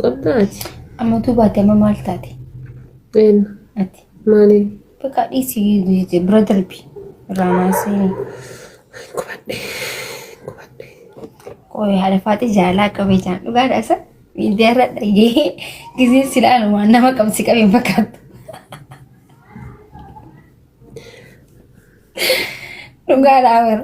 Qabdaa ati. Amma utuu baate amma maal taate? Een Ati. maaliin Bakka dhiisii bira darbi. Irraa maasee. gubadhe gubadhe. Qoy haadha faaxii jaalaa qabee jaan dhugaa dhaasa. Miidiyaa irra dhagee gisee silaa numaan nama qabsi qabee fakkaatu. Dhugaa dhaabara.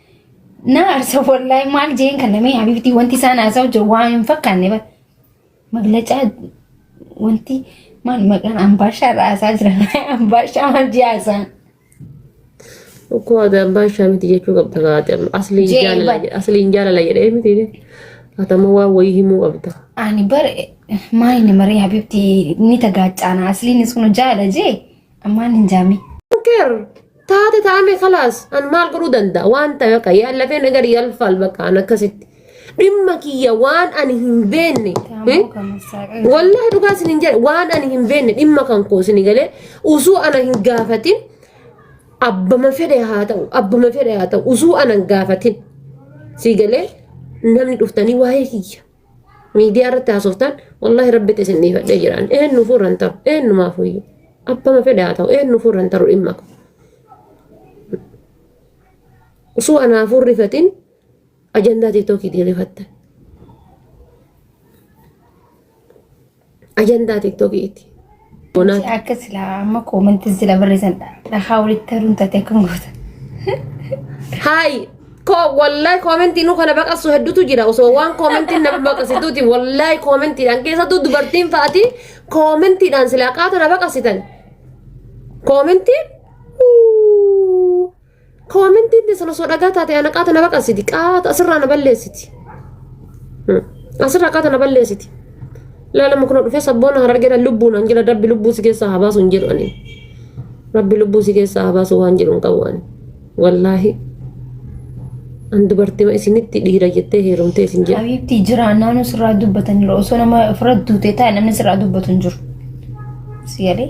Na arsa wallahi maal jeen kan namee habibtii wanti isaan haasa'u jiru waan hin fakkaanne bar. Maglacaa wanti maal maqaan ambaashaa irraa haasaa jira. Ambaashaa maal jee haasaan. Ukkoo ati abbaa ishaa miti jechuu qabda gaate amma asliin Jee, jaalala bar. jedhe- asliin jaalala jedhee miti ati amma waan wayii himuu qabda. Ani bar maali namaree habibtii ni tagaacaana asliinis kun jaala jee ammaan hin jaamee. Keer taate taame kalaas an maal godhuu danda'a waan ta'e akka yaallafee nagar yaalfaal bakka an akkasitti dhimma kiyya waan ani hin beenne eh? wallahi dhugaa isin hin jedhe waan ani hin beenne dhimma kan koo isin galee usuu ana hin gaafatin abbama fedhe haa ta'u abbama fedhe haa ta'u usuu ana hin gaafatin si galee namni dhuftanii waa'ee kiyya miidiyaa irratti haasoftan wallaahi rabbitti isin dhiifadhee jiraan eenyu fuurra hin taru eenyumaaf iyyuu abbama fedhe haa ta'u eenyu fuurra hin taru dhimma qabu. Osoo anaafuu rifatiin ajandaa tiiktookii rifatta. Ajandaa tiktookiiti. Bonaati. Akka silaa amma koomantiin sila barreessan dhahaa walitti haruun taate akka hin gootan. Haayi. Koo wallahi koomentii nu kana baqassu hedduutu jira osoo waan koomentiin nama baqassituuti wallahi koomentiidhaan keessattuu dubartiin fa'aati koomentiidhaan silaa qaata na baqassitan. Koomentiin Koomentiin teessan osoo dhagaa taate ana qaata na baqarsiti. Qaata asirraa na balleessiti. Asirraa qaata na balleessiti. Laalama kuna dhufee sabboona harargeedhaan lubbuun an jedha rabbi lubbuu si keessaa haa baasu hin jedhu ani. Rabbi lubbuu si keessaa haa baasu waan jedhu hin qabu ani. Wallaahi. An dubartima isinitti dhiira jettee heerumtee isin jedha. Habiibti jira naannoo sirraa dubbatanirra osoo nama ofirra duutee taa'e namni sirraa dubbatu hin jiru. Si galee?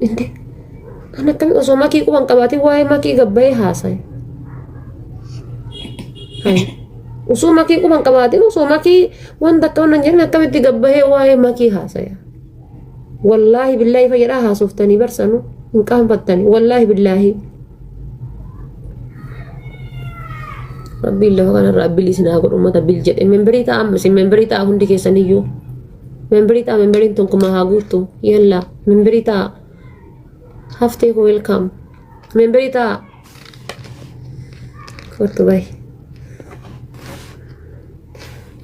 Inde kan akkami osoo makii quban qabaatiin waa'ee makii gabbayee haasaye. Hai. Osoo makii quban qabaatiin osoo makii wanta akka wannan jedhan akkamitti gabbayee waa'ee makii haasaya. Wallaahi billaahi fayyadhaa haasoftanii barsanu hin qaanfattani wallaahi billaahi. Rabbiin lafa kanarra abbilii isin haa godhu uummata bil jedhe memberii ta'a amma isin memberii ta'a hundi keessaniyyuu. Memberii ta'a memberiin tokkummaa haa guuttu yallaa. Memberii ta'a. Haftee koo welcome. Memberii ta'a. Kottu bahi.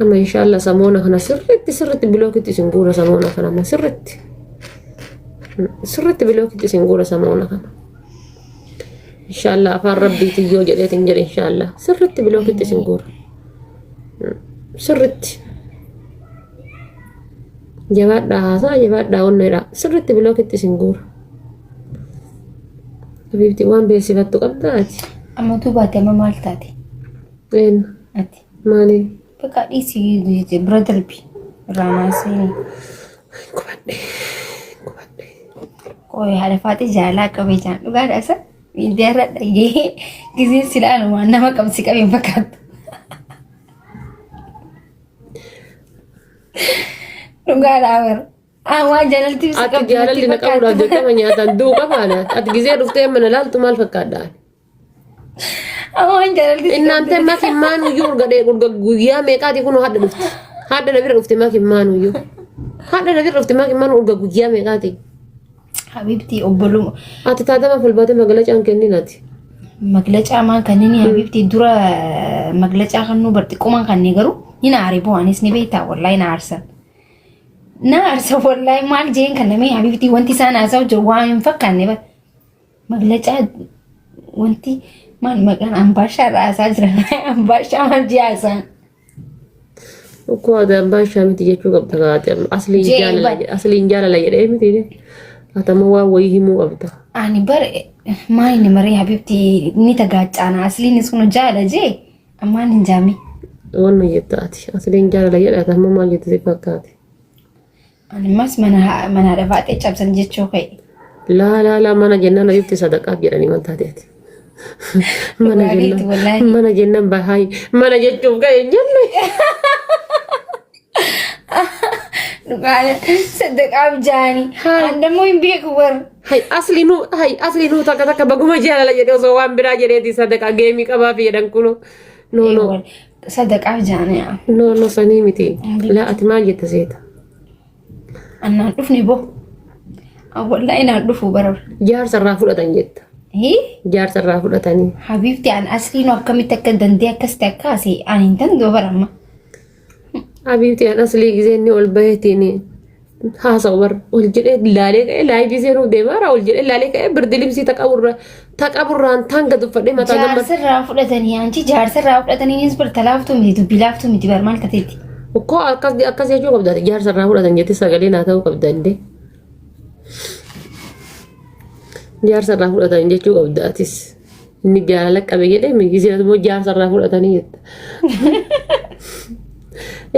Amma inshaalla samoona kana sirriitti sirriitti bilookitti isin guura samoona kana amma sirriitti. Sirriitti bilookitti isin guura samoona kana. Inshaalla afaan rabbiitiin yoo jedheetiin jedhe inshaalla sirriitti bilookitti isin guura. Sirriitti. Jabaadhaa haasaa jabaadhaa onneedha. Sirriitti bilookitti isin guura. Habiibti waan beeksifattu qabdaa ati. Amma utuu baate amma maal taate? Eenyu? Ati. Maaliin? Bakka dhiisii bira darbi. Irraa maasee. Gubadhe. Gubadhe. Qoy haadha faaxee jaalaa qabee jaan dhugaadha isa. Miidiyaa irra dhagee gisee silaalumaan nama qabsi qabee fakkaatu. Dhugaadhaa bar. Awwaa jaalalti ibsa Ati qabdi jaalalli na natti qabuudhaaf fakkaatti. dirqama nyaataan du'u qabaana. Ati gizee dhuftee mana laaltu maal fakkaadhaan? Awwaan jaalalti si Innaante qabdi. makin maanuyyuu urga dhee urga guyyaa meeqaati kun hadda dhufte. Hadda na bira dhufte makin maanuyyuu. Hadda na bira dhufte makin maanu urga guyyaa meeqaati. Habibti obboluma Ati taatama falbaatee magalacaan kennin ati. maglacaa maan kanneen habibti dura maglacaa kannuu barxiqquman kannee garuu ni na aare bu'aanis ni beektaa wallahi na aarsan. Na aarsan wallahi maal jeen kan namee habibti wanti isaan haasa'u jiru waan hin fakkaanne bara. Maglacaa wanti maal maqaan ambaashaa irraa haasaa jiran ambaashaa maal jee haasaan. Ukkoo ati abbaa ishaa miti jechuu qabda kaa ati amma asliin Jee jaalala bar- jedhe asliin jaalala jedhee miti ati amma waan wayii himuu qabda. Ani bar maayini maree habibti ni tagaacaana asliin sunu jaala jee ammaan hin jaami. Waan nu jetta ati asliin jaalala jedhe ati amma maal jette si fakkaate. Animmas mana ha- mana haadha baatee cabsan jechuu ka'e. Laa laa laa mana jennaan ayyuutti sadaqaaf jedhanii waan taate ati. Mana Dhugaa keetti jennaan wallaahi. mana jennaan bahaay mana jechuuf ga'e hin jenne. Dhugaadha. Sadaqaaf jaanii. Haa. Andammoo hin beeku warra. Hay asli nu hay asli nu takka takka baguma jaalala jedhe osoo waan biraa jedheeti sadaqaa geemii qabaafi jedhan kuno. No no. Sadaqaa jaanii yaa. No no sanii miti. Laa ati maal jetta seeta? Annaan dhufne boo. Awwallaa inaan dhufu bara. Jaarsa irraa fudhatan jetta. Hii? Jaarsa irraa fudhatanii. Habiibti an asliin akkamitti akka dandee akkasitti akka asee an hin dandoo bara amma. Habiibti an aslii gisee inni ol bahetiin haasa'u bar ol jedhee laalee ka'ee laayivii seenuuf deema irraa ol jedhee laalee ka'ee birdilimsii taqaburra taqaburraan taan gad uffadhee mataa gammadee. Jaarsirraa fudhatanii anchi jaarsirraa fudhatanii innis bar talaaftuu miti dubbii laaftuu miti bar maal tateetti. Koo akkas akkas jechuu qabda jaarsa irraa fudhatan jettee sagalee naa ta'uu qabda indee. Jaarsa irraa fudhatan jechuu qabda atis. Inni jaalala qabe jedhee migisee immoo jaarsa irraa fudhatanii jetta.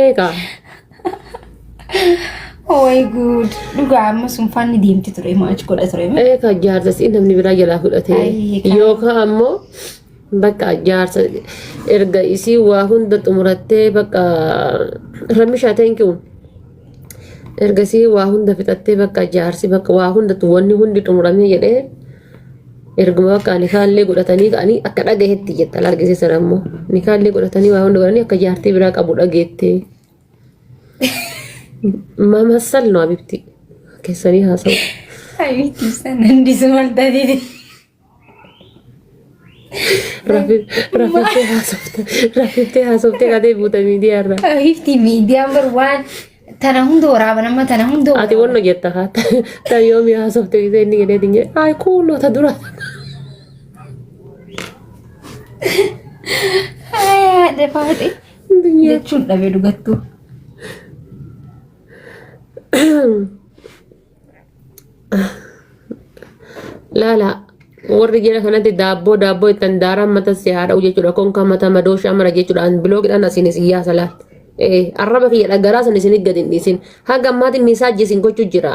Eegaa Way good. Dhugaa amma sunfaan ni deemti ture moo achi godha ture mee? Ee ka jaarsa si namni biraa jalaa Ayii, fudhatee kan- yookaan ammoo bakka jaarsa erga isii waa hunda xumurattee bakka ramishaa teenkiwun erga isii waa hunda fixattee bakka jaarsi bakka waa hunda wanni hundi xumuramee jedhee erguma bakka nikaallee godhatanii ka'anii akka dhagahetti jetta laal gisee sana ammoo nikaallee godhatanii waa hunda godhanii akka jaartii biraa qabu dhageettee. Mamasal no abibti. Keessanii haasa'u. Habiibti ibsan dandisu mal taatee. Rafiftee haasofte. Rafiftee haasofte kadee buuta miidiyaa irraa. Habiibti miidiyaan bar waan tana hunda waraaba nama tana hunda Ati waraaba. wanno jetta haa. Ta yoomi haasofte gisee inni jedhee dinje. Ay kuunoo ta dura. Hayaa defaate. Jechuun dhabee dhugattuu. Laala warri jira kanatti daabboo daabboo ittiin daaraan mata si haa dha'u jechuudha. Konkaa mata madooshaa mara jechuudhaan biloogidhaan asiin isin yaasa laal. Arraba kiyya dhagaraa san isin gadi hin dhiisin. Haga ammaatiin miisaajii isin gochuu jira.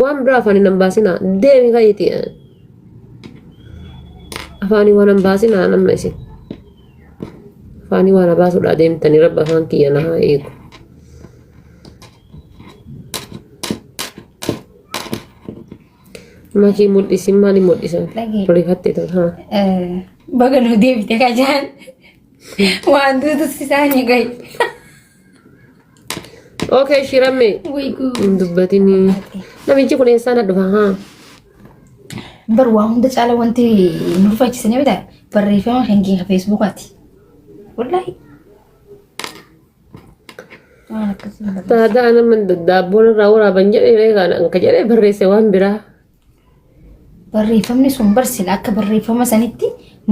Waan biraa afaan hin baasinaa deemi fayyiti. Afaanii waan hin baasinaa namna isin. Afaanii waan baasuudhaa deemtanii rabbi afaan kiyya na haa eegu. Makii mul'isin maali mul'isan? Lagi. Rifattee tun haa. Baga nu deebite kajaan. Waan duutus isaanii gahi. Okay, shiramme. Way good. Hin dubbatini. Namichi kun eessaa na dhufa haa? Bar waa hunda caala wanti nu rifaachisanii bitaa barreeffama kan keenya feesbuukaati. Wallaahi. Waan akkasii hin barreessu. Taataa nama daddaabboon irraa waraaban jedhee reegaan anka jedhee barreesse waan biraa. Barreeffamni sun bar sila akka barreeffama sanitti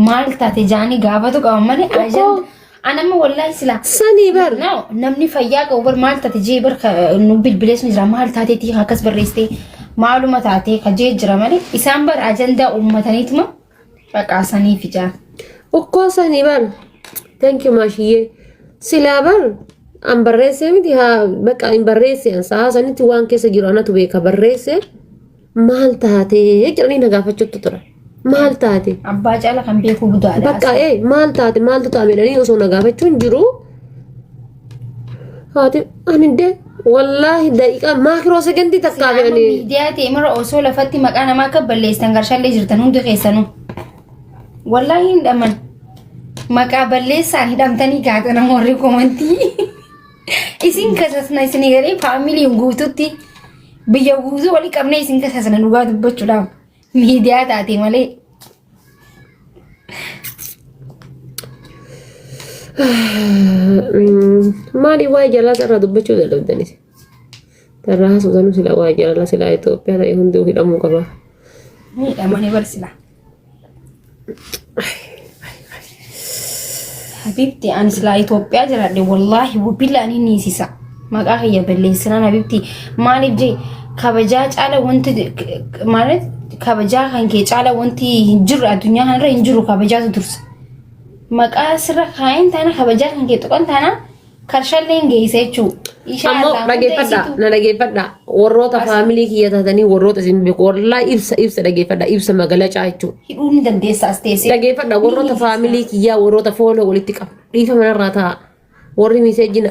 maal taate jaanii gaafatu qaban malee Tokko. ajanda. An amma wallaahi sila. Sanii bar. No, namni fayyaa qabu bar maal taate jee bar ka- nu bilbilees ni jira maal taateeti akkas barreessitee maaluma taatee ka jee jira malee isaan bar ajandaa uummataniituma Baqaa sanii fijaa. Okkoo sanii bar. Thank you maashiyyee. Silaa bar an barreessee miti haa baqa hin barreesse an sahaa sanitti waan keessa jiru anatu beeka barreesse maal taatee jedhanii na gaafachuutti tura. Maal taate? Abbaa caala kan beekuu budaadha. Bakka ee maal taate maaltu ta'a jedhanii osoo na gaafachuun jiru. Haati ani dee wallaahi daqiiqaa maakiroo sekondii takkaa fi ani miidiyaa ta'e mara osoo lafatti maqaa namaa akka balleessan garshallee jirtan hundi keessanuu. Wallaahi hin dhaman. Maqaa balleessaan hidhamtanii gaatan amma warri komantii. Isin kasasna isin garee faamilii guututti biyya guutuu walii qabnee isin kasasna dhugaa dubbachuudhaaf miidiyaa taate malee. Maali waa'ee jalaa sarara dubbachuu dadhabdanis. Sarara haasofsanu sila waa'ee jalala sila Itoophiyaa ta'e hundi hidhamuu qaba. Miidhamanii barsiisa. Habibti ani silaa Itoophiyaa jiraadhe wallaahi wabbilla ani niisisa. Maqaa kiyya balleessinaan Habibti maaliif jee kabajaa caala wanti maalet kabajaa kan kee caala wanti hin jirre addunyaa kanarra hin jiru kabajaatu dursa. Maqaa sirra kaa'een taana kabajaa kan kee tuqan taana Karshalleen geeysa jechuu. Ishaa ammoo irraa hunda dhageeffadha isitu. na dhageeffadha warroota faamilii kiyya taatanii warroota isin beeku warraa ibsa ibsa dhageeffadha ibsa magalacaa jechuudha. Hidhuu ni dandeessa as teessee. Dhageeffadha warroota faamilii kiyyaa warroota fooloo walitti qabu dhiifa manarraa taa'a warri miseejji na.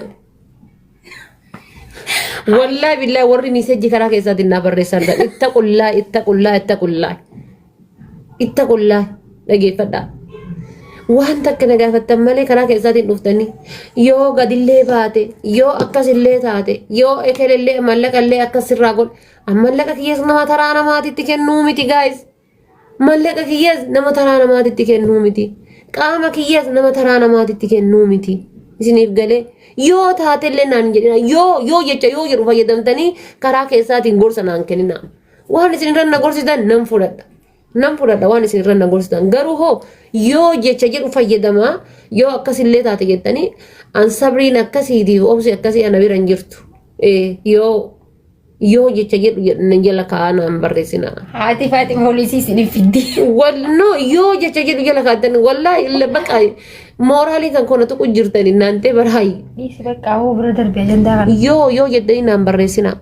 Wallaahi billaahi warri miseejji karaa keessaatiin naa barreessan itta qullaa itta qullaa itta qullaa. Ittaqullaa dhageeffadhaa. Waan takka na gaafattan malee karaa keessaatiin dhuftanii yoo gadillee baate yoo akkasillee taate yoo ekelellee mallaqallee akkas sirraa godhe an mallaqa kiyyas nama taraa namaatitti kennuu miti gaayis. Mallaqa kiyyas nama taraa namaatitti kennuu miti. Qaama kiyyas nama taraa namaatitti kennuu miti. Isiniif galee yoo taatellee naan jedhina yoo yoo jecha yoo jedhu fayyadamtanii karaa keessaatiin gorsa naan kenninaa. Waan isin irra na gorsitan nan fudhadha. Nan fudhadha waan isin irra na gorsitan. Garuu hoo yoo jecha jedhu fayyadamaa yoo akkasillee taate jettanii an sabriin akkasiitiif obsi akkasii ana bira hin jirtu. Eh, Yoo yoo jecha jedhu jedhan jala kaa'aa naan barreessinaa. Haati faati poolisii isin fiddi. Walno yoo jecha jedhu jala kaa'atan wallaahi illa baqa mooraalii kan kona tuqu jirtan naantee baraayi. Dhiisi bakka hoo bira darbe ajandaa kana. Yoo yoo jettanii naan barreessinaa.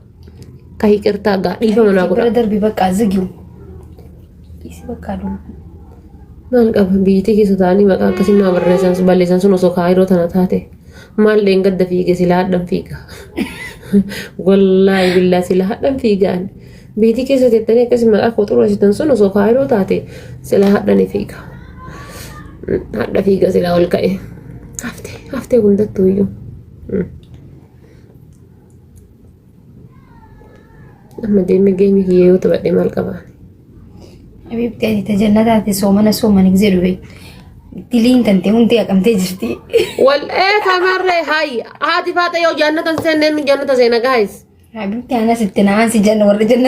Ka hiqirtaa gaa dhiifama naa godha. Bira darbi bakka zigiu. Isi bakka dum. Maal qaba biyyattii keessa ta'anii maqaa akkasii naa barreessan balleessan sun osoo kaayiroo tana taate maal dheengadda fiige silaa hadhan fiiga. Wallaahi billaa silaa hadhan fiigaan. Biyyattii keessa teettanii akkasii maqaa koo xureessitan sun osoo kaayiroo taate silaa hadhan fiiga. Hadha fiiga silaa ol ka'e. Haftee haftee hundattuu iyyuu. amma deemee geemii kiyya yoo taphadhe maal qaba Habiibti ati tajallataati soomana soomana gisee dhufe. Diliin kan ta'e hundi haqamtee jirti. wal ee kamarree haay haati faaxa yoo jaannatan seenne inni jaannata seena gaayis Habiibti anas itti na'aan si janna warri janna.